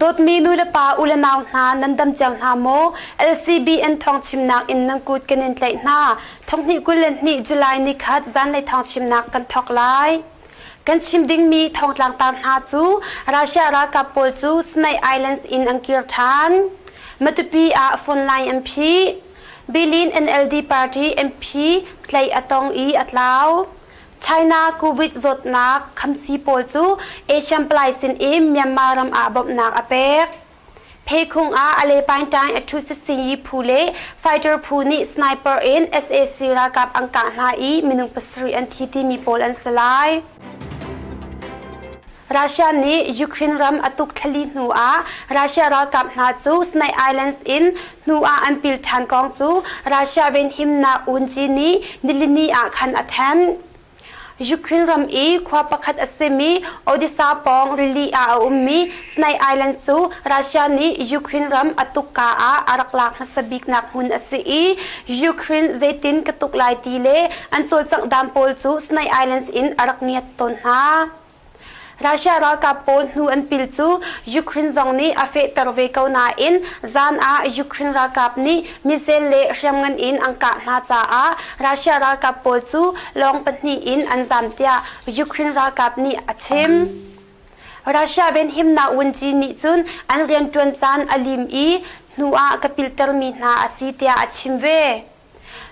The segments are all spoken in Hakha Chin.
Dawtmi nulepa u le nau hna nan dam cang hna maw? LCBN thawngchimnak in nan kut kan in tlaih hna. Thonghnih kul le hnih July ni khat zanlei thawngchimnak kan thawk lai. Kan chim dingmi thongtlang tar hna cu Russia ralkap pawl cu Sinai Islands in an kir ṭhan. Matupi ah phone line an phi. Berlin NLD party MP tlaih a tong i a tlau. China COVID zawtnak khamsi pawl cu Asian palai sin i Myanmar ram ah bawmhnak a pek. Phekhung ah Alepain Tang Athusisi phu le fighter phu nih sniper in SAC ralkap an kah hna i minung pasarih an thi timi pawl an si lai. Russia nih Ukraine ram a tuk thlali hnu ah Russia ralkap hna cu Snake Islands in hnu ah an pil ṭhan kong cu Russia venhimnak unci nih nilini ah khan a then. Ukraine ram i khua pakhat a simi Odessa pawng rili ah a ummi Snake Islands cu Russia nih Ukraine ram a tukka ah a rak lak hmasa biknak hmun a si i Ukraine zeitin ka tuk lai ti le an cawlcangh dam pawl cu Snake Islands in a rak ngiat tawn hna. Russia ralkap pawl hnu an pil cu Ukraine zong nih a fehter ve ko nain zan ah Ukraine ralkap nih missile le hriamngan in an kah hna caah Russia ralkap pawl cu lawng pahnih in an zam tiah Ukraine ralkap nih a chim. Russia venhimnak wunci nih cun an rianṭuan caan a lim i hnu ah ka pilhtermi hna a si tiah a chim ve.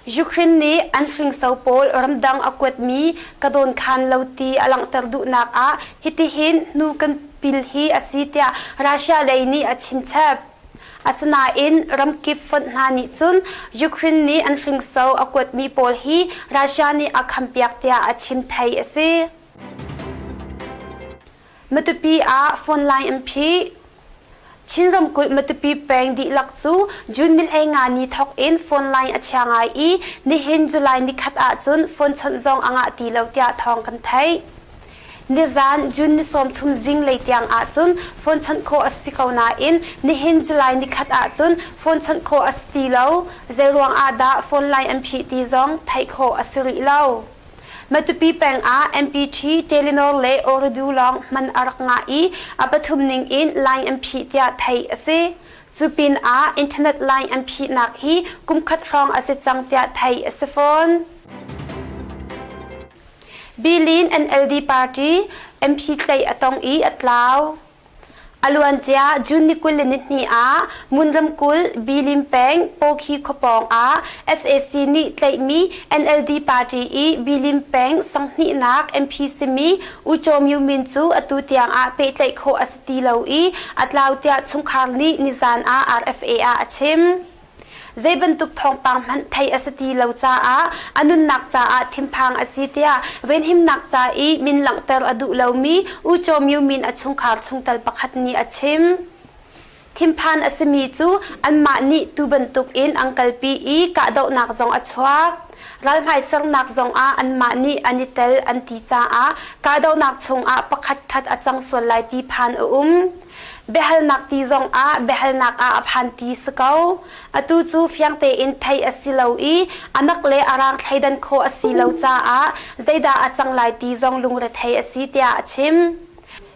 Ukraine nih an hringso pawl ramdang a kuatmi ka dawnkhan lo ti a langhter duhnak ah hitihin hnu kan pil hi a si tiah Russia lei nih a chimchep. Asinain ramkip fonh hna nih cun Ukraine nih an hringso a kuatmi pawl hi Russia nih a khampiak tiah a chim thei a si. Matupi ah phone line an phih. Chin ramkulh Matupi peng dihlak cu June nil ei nga ni thawk in phone line a chia ngai i nihin July ni khat ahcun phone chawnh zong a ngah ti lo tiah thawng kan theih. Nizan June ni sawmthum zinglei tiang ahcun phone chawnh khawh a si ko nain nihin July ni khat ahcun phone chawnh khawh a si ti lo. Zeiruang ahdah phone line an phih ti zong theih khawh a si rih lo. Matupi peng ah MPT Telenor le Oredu lawng man a rak ngah i a pathum ning in line an phih tiah theih a si. Cu pin ah internet line an phihnak hi kumkhat hrawng a si cang tiah theih a si fawn. Bilin NLD party MP tleih a tong i a tlau. A luancia June ni kul le nihnih ah Mun ramkulh Bilin peng Pawkhi khua pawngah sac nih tlaihmi NLD party i Bilin peng sanghnih-nak MP simi U Chaw Myu Min cu atu tiangah pehtlaih khawh a si ti lo i a tlau tiah chungkhar nih nizan ah RFA ah a chim. Zei bantuk thawngpang hmanh theih a si ti lo caah a nunnak caah thinphang a si tiah venhimnak ca i min langhter a duh lomi U Chaw Myu min a chungkhar chungtel pakhat nih a chim. Thinphan a simi cu anmah nih tu bantukin an kalpi i kahdohnak zong a chuak. Ral hmaisernak zongah anmah nih an i tel an ti caah kahdohnak chungah pakhatkhat a cang sual lai ti phan a um. biahalnak ti zong ah biahalnak ah a phan ti si ko atu cu fiang tein thei a si lo i anak le arang thleidan kho a si lo caah zeidah a cang lai ti zong lungre thei a si tiah a chim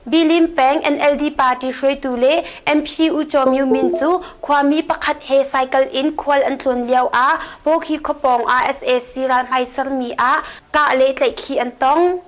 Bilim Peng NLD party hruaitu le MP U Chaw Myu Min cu khuami pakhat he cycle in khual an tlun lio ah Pawkhi khawpawng ah SAC ralhmai sermi ah kah le tlaihkhih an tong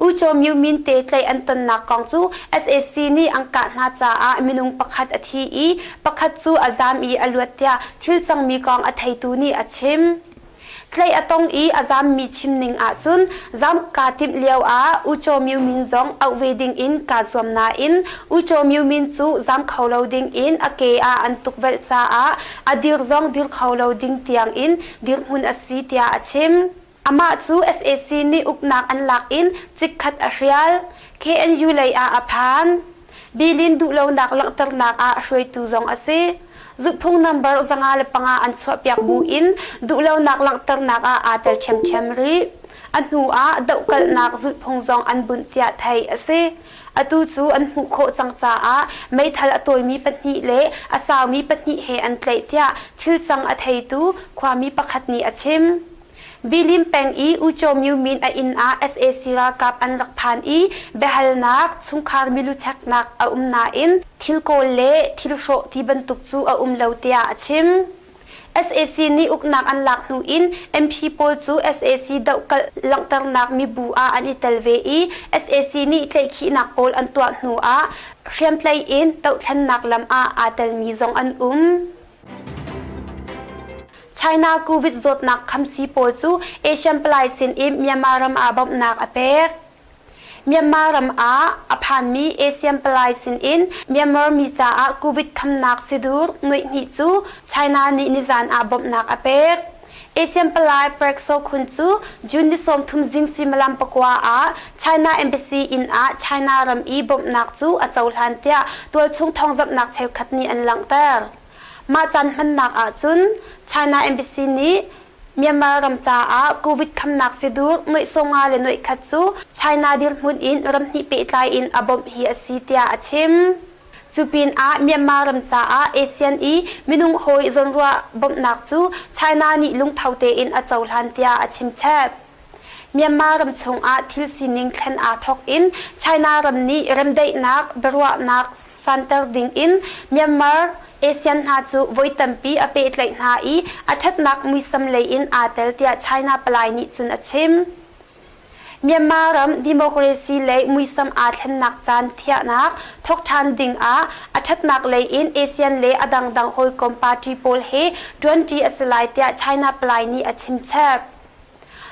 U Cho Myu Min te tlaih an tonnak kong cu sac nih an kah hna caah minung pakhat a thi i pakhat cu a zaam i a luat tiah thil cangmi kong a theitu nih a chim. Tlaih a tong i a zaammi chim ning ahcun zaam kaa timh lio ah U Cho Myu Min zong auh ve ding in kaa zuam nain U Cho Myu Min cu zaam kho lo ding in a ke ah an tukvelh caah a dirh zong dirh kho lo ding tiang in dirhmun a si tiah a chim. Amah cu sac nih uknak an lak in chikkhat a hrial. KNU lei ah a phan. Bilin duhlonak langhternak ah hruaitu zong a si. Zuhphung nambar zanga le panga an chuahpiak bu in duhlonak langhternak ah aa tel ṭhiamṭhiam rih. A hnu ah dohkalhnak zulhphung zong an bunh tiah theih a si. Atu cu an hmuh khawh cang caah meithal a tawimi pahnih le a saumi pahnih he an tlaih tiah thilcang a theitu khuami pakhat nih a chim. Bilim peng i Uico Myu Min a inn ah sac ralkap an rak phan i biahalnak, chungkhar milu cheknak a um nain thil kawl le thil hrawh ti bantuk cu a um lo tiah a chim. sac nih uknak an lak hnu in MP pawl cu sac dohkalh langhternak mibu ah an i tel ve i sac nih tlaihkhihnak pawl an tuah hnu ah hriamtlai in dohthlennak lam ah aa telmi zong an um. China COVID zawtnak khamsi pawl cu Asian palai sin i Myanmar ram ah bawmhnak a pek. Myanmar ram ah a phanmi Asian palai sin in Myanmar mi caah COVID khamnak si dur nuih hnih cu China nih nizan ah bawmhnak a pek. Asian palai Park So Khun cu June ni sawmthum zing suimilam pakua ah China embassy inn ah China ram i bawmhnak cu a cohlan tiah tualchung thawngzamhnak cheukhat nih an langhter. Mah caan hmannak ahcun China Embassy nih Myanmar ram caah COVID khamnak sidur noihsonga le noikhat cu China dirhmun in ram hnih pehtlai in a bawmh hi a si tiah a chim. Cu pinah Myanmar ram caah ASEAN i minung hawi zawnruah bawmhnak cu China nih lungtho tein a cohlan tiah a chimchep. Myanmar ram chungah thil sining thlen aa thawk in China ram nih remdaihnak biaruahnak santer ding in Myanmar ASEAN hna cu voi tampi a pehtlaih hna i a ṭhatnak muisam lei in aa tel tiah China palai nih cun a chim. Myanmar ram democracy lei muisam aa thlennak caan thiahnak thawk ṭhan ding ah a ṭhatnak lei in ASEAN le a dangdang hawikom party pawl he ṭuanṭi a si lai tiah China palai nih a chimchep.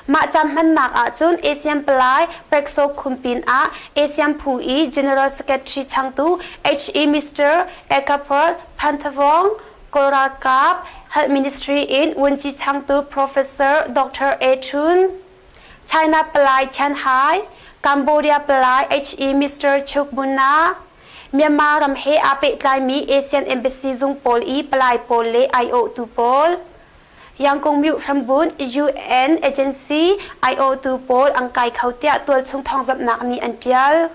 Mah caan hmannak ahcun ASEAN palai Pekso Khum pinah ASEAN phu i General Secretary changtu HE Mr. Ekaport Pantavong, Kawlralkap Health Ministry in Wunci changtu Professor Dr. A Chun, China palai Chen Hai, Cambodia palai HE Mr. Chuk Muna, Myanmar ram he aa pehtlaimi ASEAN embassy zung pawl i palai pawl le aiawhtu pawl, Yangkung Myuh hrambunh UN agency IOtu pawl an kai kho tiah tualchung thawngzamhnak nih an ṭial.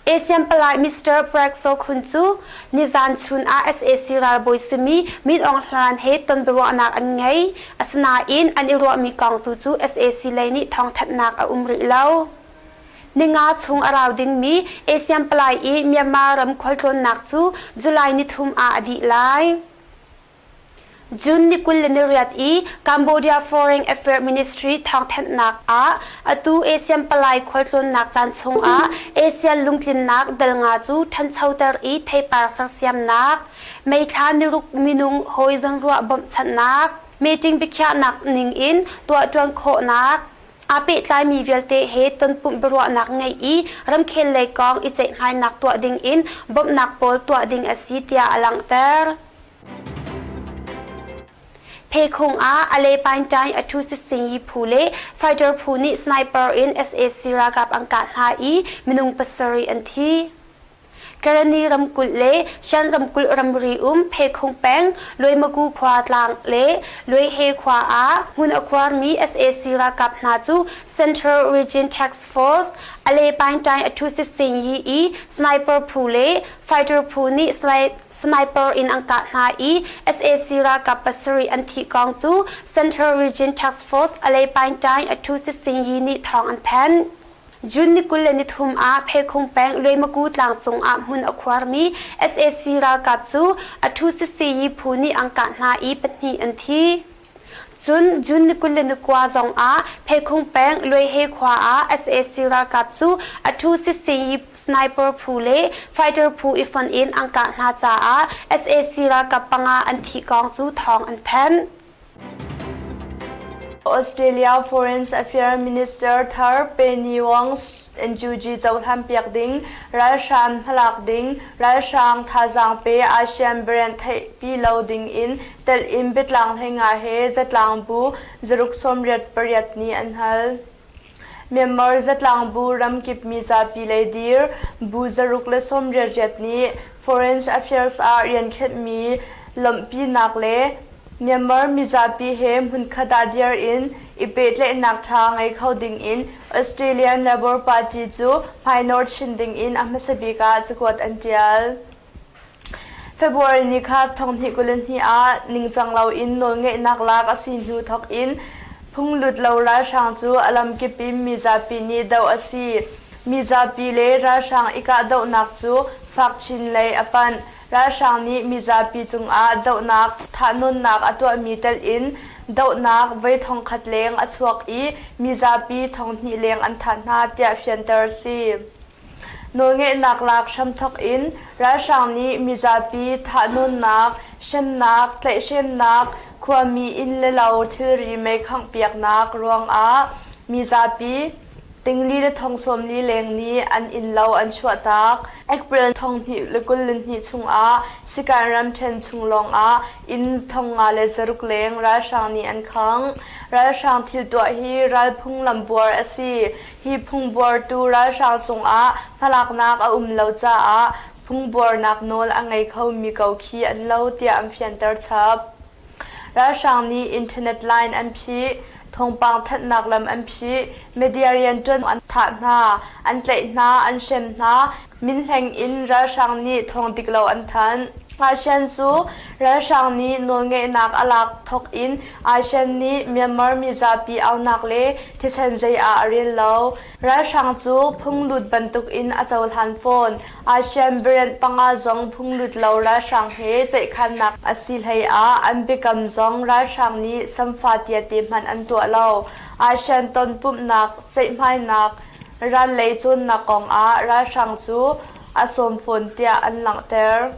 ASEAN palai Mr. Park So Khun cu nizan chun ah sac ralbawi simi Min Aung Hlawn he tonbiaruahnak an ngei. Asinain an i ruahmi kong tu cu sac lei nih thawngthanhnak a um rih lo. Ninga chung a rau dingmi ASEAN palai i Myanmar ram khualtlawnnak cu July nithum ah a dih lai. June ni kul le ni riat i Cambodia Foreign Affairs Ministry thawngthanhnak ah atu ASEAN palai khualtlawnnak caan chungah ASEAN lungtlinnak dal nga cu ṭhanchoter i theipar sersiamnak, meithla niruk minung hawi zawnruah bawmhchanhnak, meeting biakhiahnak ning in tuahṭuan khawhnak, aa pehtlaimi vialte he tonpumh biaruahnak ngei i ramkhel lei kong i ceihmainak tuah ding in bawmhnak pawl tuah ding a si tiah a langhter. Phekhung ah Ale Paintai a thu Singi phu le fighter phu nih sniper in SAC ralkap an kah hna i minung pasarih an thi. Karani ramkulh le Shan ramkulh ramri um Phekhung peng Luaimagu khua tlang le Luaihe khua ah hmun a khuarmi SAC ralkap hna cu Central Region Task Force Ale Paintai a thu Singi i sniper phu le fighter phu nih Sniper in an kah hna i sac ralkap pasarih an thih kong cu Central Region Task Force Alepain Tain Athu Sit Sing Yi nih thawng an thanh. June ni kul le ni thum ah Pheikhung peng Luemaku tlang cungah hmun a khuarmi sac ralkap cu Athu Sit Sing Yi phu nih an kah hna i pahnih an thi. Cun June ni kul le ni kua zongah Pheikhung peng Luaihe khua ah sac ralkap cu a thu sisi sniper phu le fighter phu i fonh in an kah hna caah sac ralkap panga an thih kong cu thawng an thanh. Australia Foreign Affairs Minister thar Penny Wong NUG cohlanpiak ding, ralhrang hmalak ding, ralhrang thazaang pe ASEAN brand theihpi lo dingin telh in biatlang hleinga he zatlang bu zaruk sawmriat pariat nih an hal. Myanmar zatlang bu ramkip mizapi lei dir bu zaruk le sawmriat riat nih Foreign Affairs ah rian khenhmi lawmhpinak le Myanmar mizapi he hmunkhat ah dir in i pehtlaihnak ṭha ngei kho dingin Australian Labour Party cu hmainawr chin dingin a hmasa bik ah cakuat an ṭial. February ni kha thonghnih kul in hnih ah ningcang loin nawlngeihnak lak a si hnu thawk in phunglut lo ralhrang cu a lamkip in mizapi nih doh a si. Mizapi le ralhrang i kahdohnak cu fak chin lei a panh. Ralhrang nih mizapi cungah dohnak, thah-nunnak a tuahmi telh in dohnak voi thongkhat leng a chuak i mizapi thonghnih leng an thah hna tiah fianter a si. Nawlngeihnak lak hramthawk in ralhrang nih mizapi thah-nunnak, hremnak, tlaihhremnak, khuami inn le lo thilri mei khanghpiaknak ruangah mizapi, Tingli le thong sawmli leng nih an innlo an chuahtak. April thonghnih le kul le hnih chungah Sikan ramṭhen chung lawngah inn thong nga le zaruk leng ralhrang nih an khang. Ralhrang thil tuah hi ral phunglam buar a si. Hi phungbuartu ralhrang cungah hmalaknak a um lo caah phungbuarnak nawl a ngei khomi ko khi an lo tiah an fianter chap. Ralhrang nih internet line an phih, thawngpang thanhnak lam an phih, media rian ṭuan an thah hna, an tlaih hna, an hrem hna, min hleng in ralhrang nih thawng dik lo an thanh. Ngaishian cu ralhrang nih nawlngeihnak a lak thawk in Aishian nih Myanmar mizapi aunak le thisen zei ah a rel lo. Ralhrang cu phunglut bantuk in a cohlan fawn. Asian variant panga zong phunglut lo ralhrang he ceihkhannak a si hlei ah an biakam zong ralhrang nih samfatia te hmanh an tuah lo. Asian tonpumhnak, ceihhmainak, ran lei cawnnak kong ah ralhrang cu a sawm fawn tiah an langhter.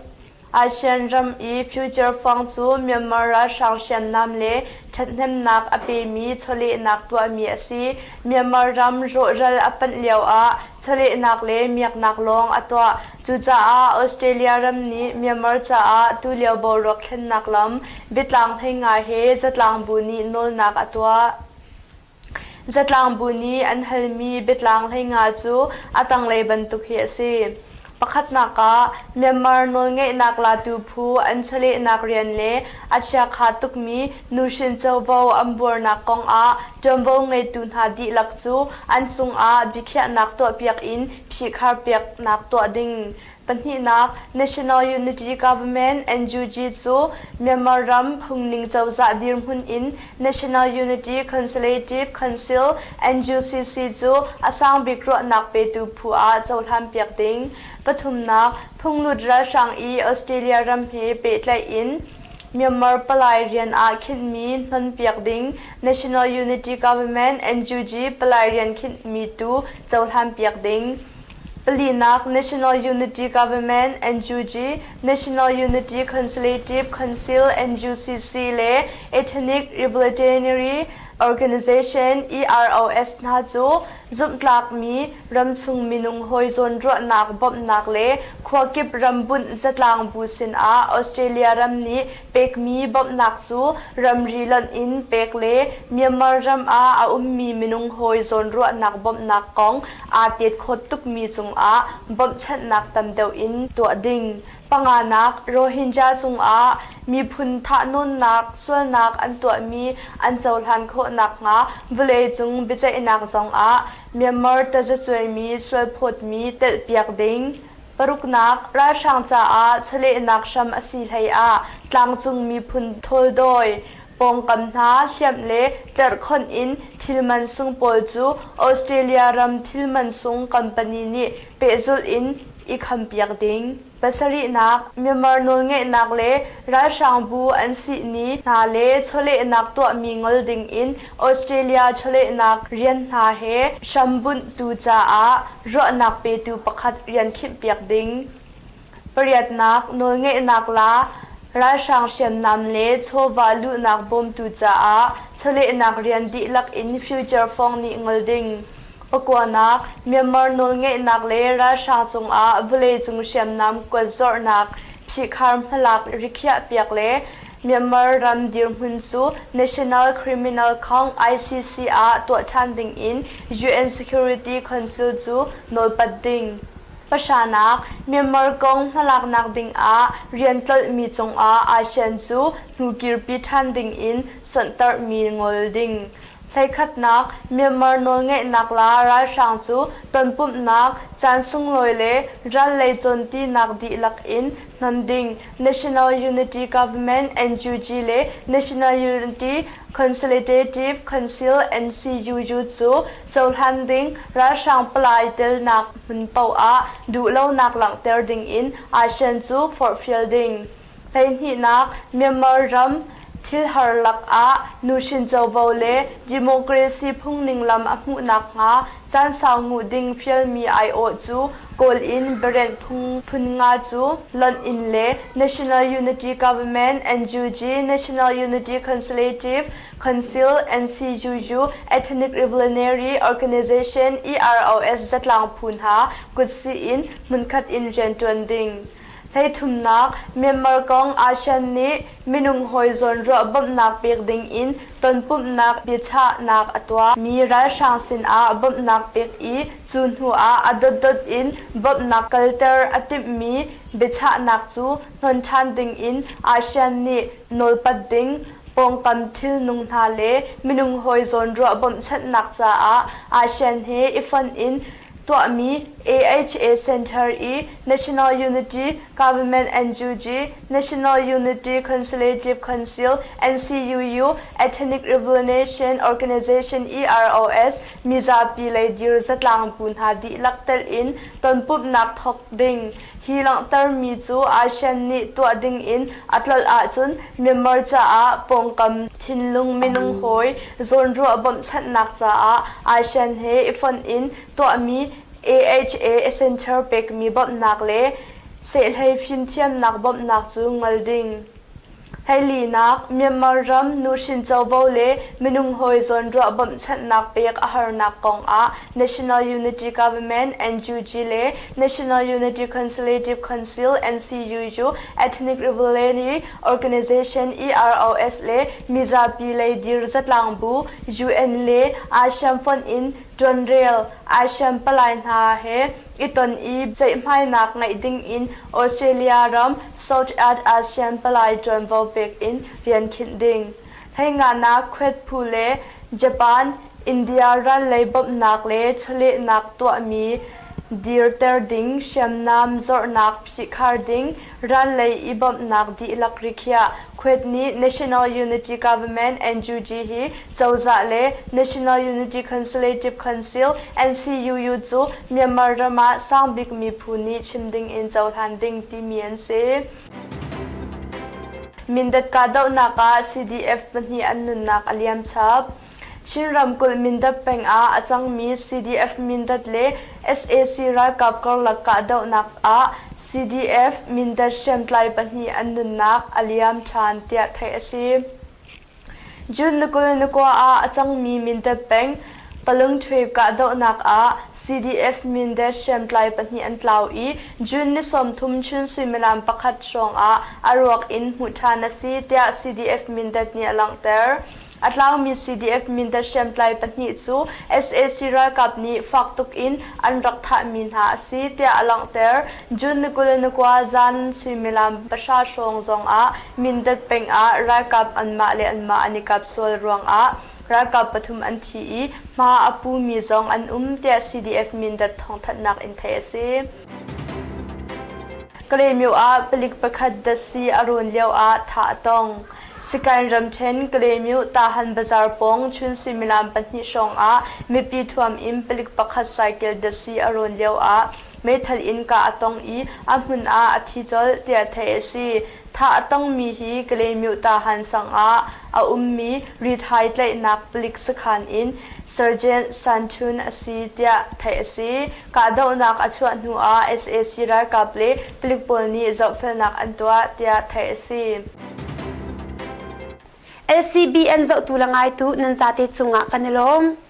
ASEAN ram i future fund cu Myanmar ralhrang hriamnam le ṭhathnemnak a pemi chawlehnak tuahmi a si. Myanmar ram rawhral a panh lioah chawlehnak le miaknak lawng a tuah. Cucaah Australia ram nih Myanmar caah tulio boruak thlennak lam, biatlang theinga he zatlang bu nih nawlnak a tuah. Zatlang bu nih an halmi biatlang hleinga cu a tanglei bantuk hi a si. Pakhatnak ah, Myanmar nawlngeihnak latu phu an chawlehnak rian le a chiakha tukmi nuhrin covo an buarnak kong ah ṭuanvo ngeitu hna dihlak cu an cungah biakhiahnak tuahpiak in phihkhar peknak tuah ding, Pahnihnak, National Unity Government, NUG, cu Myanmar ram phungning cozah dirhmun in National Unity Consultative Council, NUCC, cu a sangbik ruahnak petu phu ah cohlanpiak ding. Pathumnak, phunglut ralhrang i Australia ram he pehtlaih in Myanmar palai rian ah khinhmi hnonpiak ding, National Unity Government, NUG, palai rian khinhmi tu cohlanpiak ding. Palinak National Unity Government NUG, National Unity Consulative Council NUCC le Ethnic Rehabilitatory Organization EROS hna cu zumhtlakmi ramchung minung hawi zawnruahnak bawmhnak le khuakip rambunh zatlang bu sinah Australia ram nih pekmi bawmhnak cu ramri lonh in pek le Myanmar ram ah a ummi minung hawi zawnruahnak bawmhnak kong aa tetkawt tukmi cungah bawmhchanhnak tam deuh in tuah ding, panganak Rohingya cungah miphun thahnawnnak sualnak an tuahmi an cohlan khawh nakhnga vawleicung biaceihnak zongah Myanmar tazacuaimi sualphawtmi telhpiak ding, Paruknak ralhrang caah chawlehnak hram a si hleiah tlangcung miphun thawldawi, pawngkam hna hliamh le tlerhkhonh in thil mansung pawl cu Australia ram thil mansung company nih pehzulh in i khampiak ding. Pasarihnak, Myanmar nawlngeihnak le ralhrangbu an sihni hna le chawlehnak tuahmi ngol dingin Australia chawlehnak rian hna he hrambunhtu caah ruahnak petu pakhat rian khinh-piak ding, pariatnak nawlngeihnak la, ralhrang hriamnam le chawva luhnak bawmtu caah chawlehnak rian dihlak in future fawng nih ngol ding, pakua-nak Myanmar nawlngeihnak le ralhrang cungah vawleicung hriamnam kuat zorhnak, phihkhar hmalak rikhiahpiak le Myanmar ram dirhmun cu National Criminal Khawng, ICC, ah tuah ṭhan dingin UN Security Council cu nawlpat ding. Pahranak, Myanmar kong hmalaknak dingah rian tlolhmi cungah ASEAN cu hnu kirpi ṭhan dingin sonhtarhmi ngol ding. Hleikhatnak, Myanmar nawlngeihnak la ralhrang cu tonpumhnak, caan sunglawi le ral lei cawntinak dihlak in hnon ding National Unity Government NUG le National Unity Consolidative Council NCUU cu cohlan ding ralhrang palai telnak hmun paoh ah duhlonak langhter ding in Asean cu forhfial ding hleihnihnak Myanmar ram Thilhar lakah nuhrin covo le democracy phungning lam a hmuh nakhnga caan sau nguh ding fialmi aiawh cu kawl in biarenh phunphun nga cu lonh in le National Unity Government NUG National Unity Consultative Council NCUU Ethnic Revolutionary Organization EROS zatlang phu hna kut sih in hmunkhat in rianṭuan ding Hleithumnak, Myanmar kong ASEAN nih minung hawi zawnruah bawmhnak pek dingin tonpumhnak biachahnak a tuah mi ralhrang sinah bawmhnak pek i cu hnuah a dotdot in bawmhnak kalter a timhmi biachahnak cu hnon ṭhan dingin ASEAN nih nawlpat ding pawngkam thilnung hna le minung hawi zawnruah bawmhchanhnak caah ASEAN he i fonh in tuahmi AHA Center i National Unity Government NUG, National Unity Consulative Council, NCUU, Ethnic Revolution Organization EROS, mizapi lei dir zatlang bu hna dihlak telh in tonpumhnak thawk ding Hi langhtermi cu ASEAN nih tuah dingin a tlolh ahcun Myanmar caah pawngkam thinlung minung hawi zawnruah bawmhchanhnak caah ASEAN he i fonh in tuahmi AHA Center pekmi bawmhnak le sehhlei fimthiamnak bawmhnak cu ngol ding. Hleilinak, Myanmar ram nuhrin covo le minung hawi zawnruah bawmhchanhnak pek a harnak kongah National Unity Government, NUG, le National Unity Consulative Council, NCUU, Ethnic Rivalry Organization, EROS, le mizapi lei dir zatlang bu, UN, le ASEAN fonh in ṭuan rel ASEAN palai hna he i ton i ceihhmainak ngeih ding in Australia ram South Aad ASEAN palai ṭuanvo pek in rian khinh ding, Hleinganak khuet phu le Japan, India ral lei bawmhnak le chawlehnak tuahmi dirter ding, hriamnam zornak phihkhar ding, ral lei i bawmhnak dihlak rikhiah, khuet nih National Unity Government, NUG, hi Cozah le National Unity Consulative Council, NCUU, cu Myanmar ram ah sangbik miphun nih chim dingin cohlan ding timi an si. Mindat kahdohnak ah CDF pahnih an nunnak a liam chap. Chin ramkulh Mindat peng ah a cangmi CDF-Mindat le sac ralkap karlak kahdohnak ah CDF-Mindat hriamtlai pahnih an nunnak a liam ṭhan tiah theih a si. June ni kul ni kua ah a cangmi mindat peng Palungṭhe kahdohnak ah CDF mindat hriamtlai pahnih an tlau i June ni sawmthum chun suimilam pakhat hrawngah a ruak in hmuh ṭhan a si tiah CDF mindat nih a langhter. A tlaumi CDF mindat hriamtlai pahnih cu sac ralkap nih fak tuk in an rak thahmi hna a si tiah a langhter. June ni kul ni kua zan suimilam pahra hrawng zongah Mindat peng ah ralkap anmah le anmah an i kap sual ruangah ralkap pathum an thi i hma a pumi zong an um tiah CDF Mindat thawngthanhnak in theih a si. Kalemyo ah palik pakhat dasi a rawn lio ah thah a tong. Sikan ramthen Kalemyo Tahan Bazar pawng chun suimilam pahnih hrawng ah mipi thuam in palik pakhat cycle dasi a rawn lio ah Meithal in kah a tong i a hmun ah a thi colh tiah theih a si. Thah a tongmi hi Kalaymyotah Hansang ah a ummi Rithai tlaihnak palik sakhan in Sergeant Sanchun a si tiah theih a si. Kahdohnak a chuah hnu ah sac ralkap le palik pawl nih zohfelnak an tuah tiah theih a si. LCBN zohtu le ngaitu nan zate cungah kan i lawm.